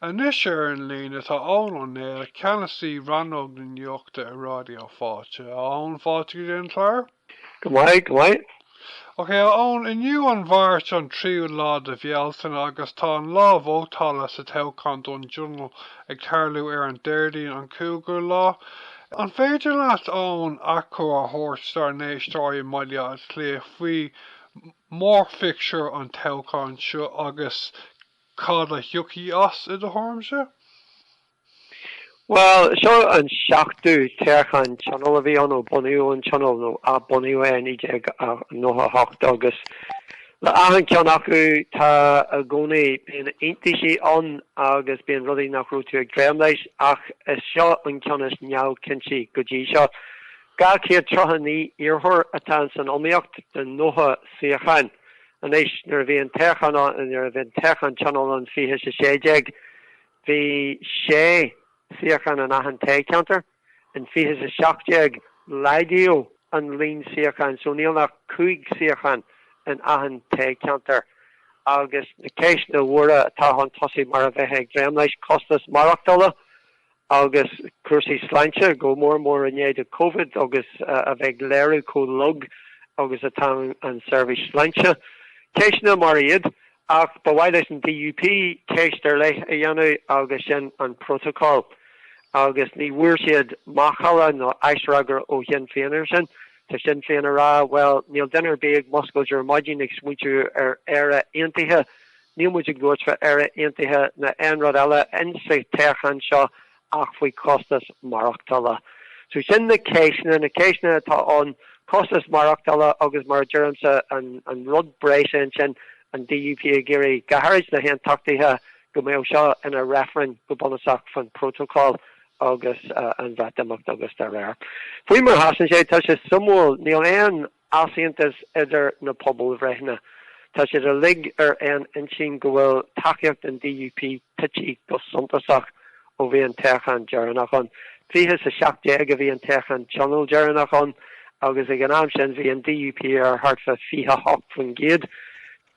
Anois ar an líne tá Eoghan Ó Néill, Ceannasaí Rannóg na Nuachta i Ráidió Fáilte. A Eoghain, fáilte go dtí an chlár. Go maith, go maith. Ok, a Eoghain, inniu an Mháirt, an tríú lá de Bhealtaine, agus tá an lá vótála sa toghchán don Tionól ag tarlú ar an Déardaoin, an cúigiú lá. An féidir leat, a Eoghain, achoimre a thabhairt dár n-éisteoirí i mBaile Átha Cliath faoi mhórphictiúr an toghcháin seo agus Cad a thiocfaidh as, i do thuairimse? Bhuel, seo an seachtú toghchán Tionóil a bhí ann ó bunaíodh an Tionól, nó athbunaíodh é i 1998, agus le achan ceann acu tá i gcónaí, bíonn iontaisí ann agus bíonn rudaí nach raibh tú ag dréim leis, ach is seo an ceann is neamhchinnte go dtí seo. Dhá chéad tríocha naoi iarrthóir atá ins an iomaíocht do nócha suíochán. Anois nuair a bhí an toghchán Tionóil ann 20 is 16, bhí sé shuíochán in achan toghcheantar. In 20 is 17, laghdaíodh an líon suíochán so níl ach cúig shuíochán in achan toghcheantar. Agus na ceisteanna móra atá chun tosaigh mar a bheifeá ag dréim leis, costas maireachtála, agus cúrsaí sláinte, go mór mór i ndiaidh Covid, agus a bheith ag léiriú chomh lag agus atá an tseirbhís sláinte. Ceisteanna mar iad, ach ba mhaith leis an DUP ceist ar leith a dhéanamh agus sin an Prótacál, agus ní bhfuair siad macalla nó aisfhreagra ó Shinn Féin air sin. Tá Sinn Féin ag rá, bhuel, níl duine ar bith ag muscailt ar maidin ag smaointiú ar Éirinn Aontaithe Níl muid ag labhairt fá Éire Aontaithe ná aon rud eile in sa toghchán seo ach faoi chostas maireachtála. So sin na ceisteanna, na ceisteanna atá ann, costas maireachtála agus mar a deirimse an rud breise ansin an DUP ag iarraidh, go háirid na haontachtaithe, go mbeadh seo ina reifreann go bunúsach fán phrótacal agus an Bhreatimeacht agus dá réir. Faoi mar a sheasann sé, tá sé suimiúil, níl aon. easaontas idir na pobalbhreitheanna. Tá siad uilig ar aon intinn go bhfuil tacaíocht an DUP tite go suntasach ó bhí an toghchán deireanach ann. Fiche is a seacht déag a bhí an toghchán Tionóil deireanach ann agus ag an am sin bhí an DUP ar thart fá 28%.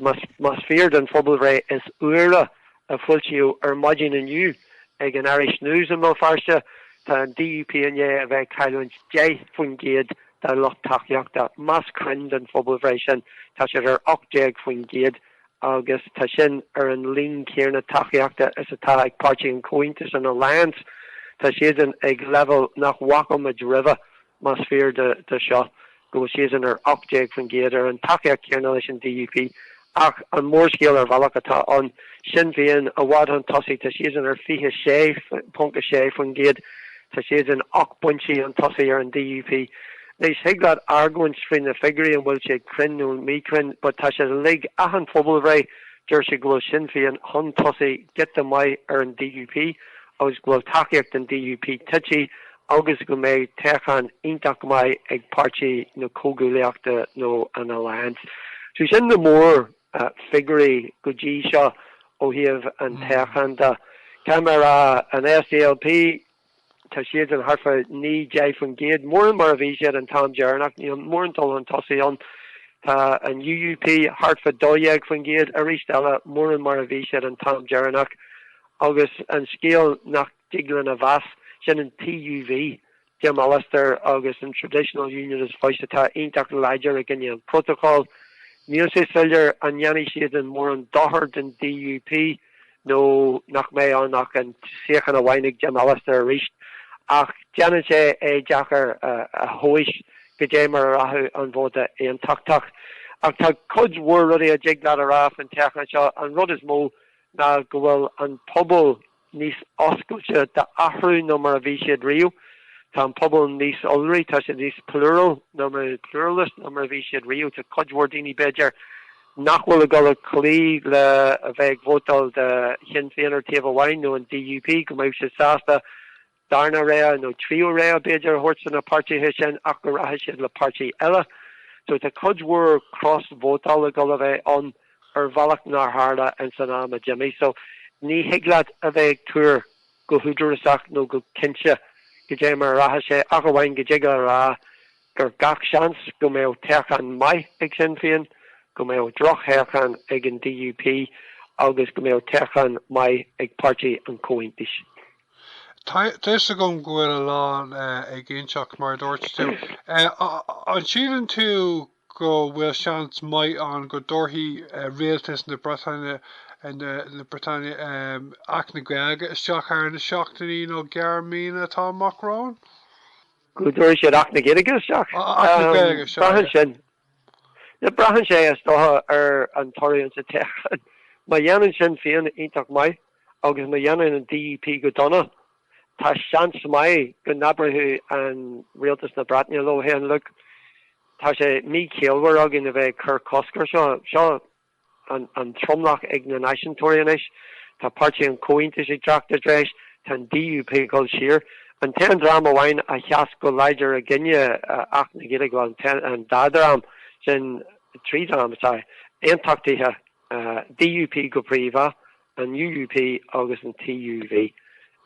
más fíor don phobalbhreith is úire a foilsíodh ar maidin inniu ag an Irish News i mBéal Feirste, tá an DUP i ndiaidh a bheith ag cailliúint 10 faoin gcéad dá lucht tacaíochta. Más cruinn don phobalbhreith sin, tá siad ar 18 faoin gcéad agus tá sin ar an líon céanna tacaíochta is atá ag Páirtí an Chomhaontais, an Alliance. Tá siadsan ag leibhéal nach bhfaca muid roimhe. más fíor dó seo, go bhfuil siadsan ar 18% ar an tacaíocht chéanna leis an DUP. Ach an mórscéal ar bhealach, tá Sinn Féin, i bhfad chun tosaigh, tá siadsan ar 26.6%. Tá siadsan ocht bpointí chun tosaigh ar an DUP. Anois, thig leat argóint faoi na figiúirí, an bhfuil siad cruinn nó míchruinn, but tá sé uilig, achan phobalbhreith, deir siad go bhfuil Sinn Féin chun tosaigh giota maith ar an DUP agus go bhfuil tacaíocht an DUP tite agus go mbeidh toghchán iontach maith ag Páirtí na Comhghuaillíochta nó an Alliance. So sin na mórfhigiúirí go dtí seo ó thaobh an toghcháin de. Tá mé a rá, an SDLP, tá siadsan thart fá naoi, deich faoin gcéad, mórán mar a bhí siad an t-am deireanach, níl mórán dul chun tosaigh ann. Tá an UUP thart fá dó dhéag faoin gcéad, aríst eile, mórán mar a bhí siad an t-am deireanach. Agus an scéal nach. Thig linn a mheas, sin an TUV, Jim Allister agus an Traditional Unionist Voice atá iontach láidir i gcoinne an Phrótacail. Níl sé soiléir an ndéanfaidh siadsan mórán dochair don DUP nó nach mbeidh ann ach an suíochán amháin ag Jim Allister arís. Ach déanann sé é deacair a thomhais goidé mar a rachadh an vóta aontachtach. Ach tá cuid mhór rudaí a dtig leat a rá faoin toghchán seo. An rud is mó ná go bhfuil an pobal níos oscailte d'athrú ná mar a bhí siad riamh, tá an pobal níos iolraí, tá siad níos plural ná mar, pluralist, ná mar a bhí siad riamh. Tá cuid mhór daoine, b'fhéidir, nach bhfuil ag dul ag cloí le a bheith ag vótáil do Shinn Féin ar thaobh amháin nó an DUP, go mbeadh siad sásta darna rogha nó tríú rogha b'fhéidir a thabhairt do na páirtithe sin ach go rachadh siad le páirtí eile so tá cuid mhór cros-vótáil ag dul a bheith ann ar bhealach nár tharla ins an am a d'imigh so ní thig leat a bheith ag tuar go húdarasach nó go cinnte goidé mar a rachadh sé ach amháin go dtig leat a rá gur gach seans go mbeadh toghchán maith ag Sinn Féin go mbeadh drochthoghchán ag an DUP agus go mbeadh toghchán maith ag páirtí an Chomhaontais. Tá fhios agam go bhfuil a lán éiginnteacht, mar a dúirt tú. An síleann tú go bhfuil seans maith ann go dtabharfaidh rialtas na Breataine, na Breataine, Acht na Gaeilge isteach thar na seachtainí nó gearr míonna atá amach romhainn? Go dtabharfaidh siad Acht na Gaeilge isteach? Acht na Gaeilge, sea. Braitheann sin. Braitheann sé, is dócha, ar an toradh ansa toghchán. Má dhéanann Sinn Féin iontach maith. agus má dhéanann an DUP go dona, tá seans maith go n-abróidh rialtas na Breataine leo féin, Look, tá sé míchiallmhar againn a bheith ag cur cosc air seo, seo an tromlach ag na náisiúntóirí anois, tá páirtí an Chomhaontais ag teacht i dtreis, tá an DUP ag dul siar. An t-aon dream amháin a sheas go láidir i gcoinne Acht na Gaeilge, bhuel, an dá dhream, sin trí dhream, is ea, aontachtaithe, an DUP go príomha, an UUP agus an TUV.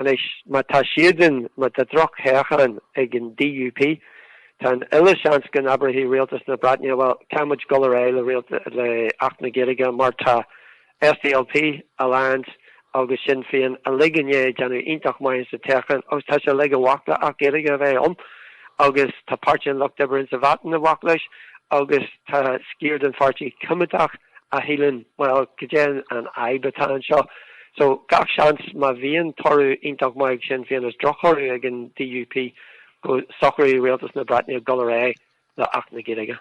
Anois, má tá siadsan, má tá drochthoghchán ag an DUP, tá an uile seans go n-abróidh rialtas na Breataine, bhuel, caithfidh muid dul ar aghaidh le Acht na Gaeilge mar tá SDLP, Alliance agus Sinn Féin uilig i ndiaidh déanamh iontach maith sa toghchán, agus tá siad uilig i bhfách le Acht Gaeilge a bheith ann, agus tá Páirtí an Lucht Oibre ins a' Bhreatain i bhfách leis, agus tá sciar den Pháirtí Coimeádach a shíleann, bhuel, goidé an fhadhb atá anseo? So, gach seans, má bhíonn toradh iontach maith ag Sinn Féin is drochthoradh ag an DUP, go socróidh Rialtas na Breataine dul ar aghaidh le Acht na Gaeilge.